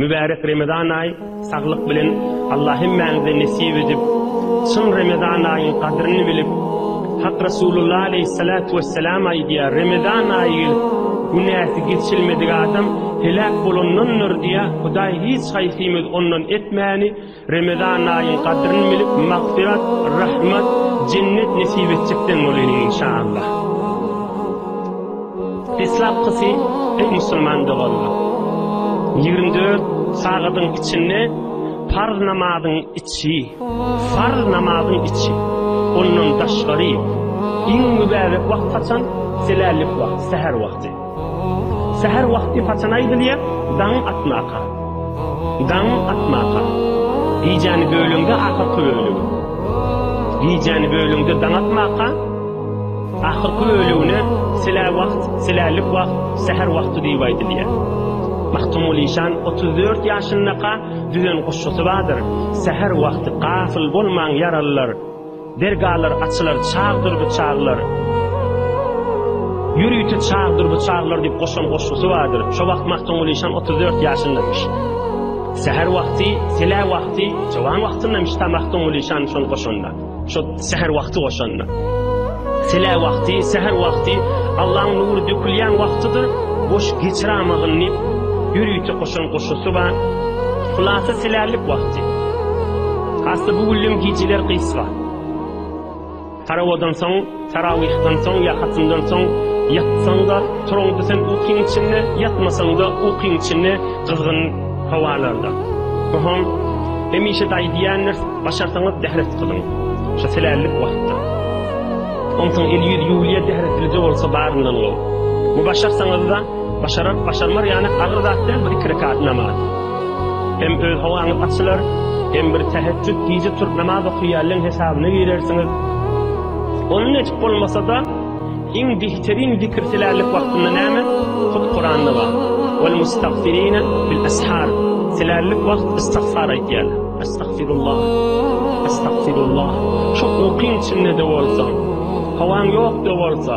Mübärek Remezan aýy saglyk bilen Allah hemmäňize nesip edip, çyn Remezan aýyň gadryny bilip, Hak Resulullah aleyhissalatu vesselam aýdýar, Remezan aýy gelip, günäsi geçilmedik adam heläk bolandandyr diýýär, Hudaý hiç haýsymyz ondan etmäni, Remezan aýyň gadryny bilip magfyrat, rahmat, jennet nesip etjekden bolýly inşallah. Deslapkysy ey musulman doganlar. 24 sagadyň içinde farz namazyň içi, farz namazyň içi. Ondan daşgary iň mübärek wagt haçan? Selälik wagt, säher wagty. Säher wagty haçan aýdylýar? Daň atmaka. Daň atmaka. Gijäni böleňde ahyrky bölegi. Gijäni böleňde daň atmaka. Ahyrky bölegine silä wagt, silälik wagt, säher wagty diýip aýdylýar. Magtymguly işan otuz dört ýaşyndaka düzen goşgusy bardyr, Säher wagty gafyl bolmaň ýaralylar. Dergalar açylar çagdyr bu çaglar. Ýörite çagdyr bu çaglar diýip goşan goşgusy bardyr. Şo wagt Magtymguly şan otuz dört ýaşyndamyş. Säher wagty, sele wagty, çawaň wagtyndamyş ta Magtymguly şan şony goşanda. Şo säher wagty goşanda. Sele wagty, säher wagty Allaň nury dökülýän wagtydyr. Boş geçiramagyn diýip ýörite goşan goşgusy bar. Hulasa selärlik wagty. Hasda bu güllem gijeler gysga. Tarawadan soň, tarawyhdan soň ýa hatymdan soň ýatsaň-da, turaňda sen ukyň içinde, ýatmasaň-da ukyň içinde gyzgyn howalarda. Bu hom hemişe daýy diýendir, başarsaňyz dehret gyzyň. Şu selällik wagtda. Onsoň el-ýüz ýuwulýar dehretlije bolsa baryndan gowy. Bu başarsaňyz-da, başarar, başarmar ýaly agyr zat däl bu iki rekat namaz. Hem öz howaňyz açylar, hem bir täheçjüt gije turup namaz okaýanlaň hesabyna girersiňiz. Ony netip bolmasa-da, iň bihteriň zikir silärlik wagtynda näme? Hut Kuranda bar. Wal mustagfirine bil ashar. Silärlik wagt istagfar aýtýar. Astagfirullah. Astagfirullah. Şo ukyň içinde-de bolsaň, howaň ýok-da bolsa,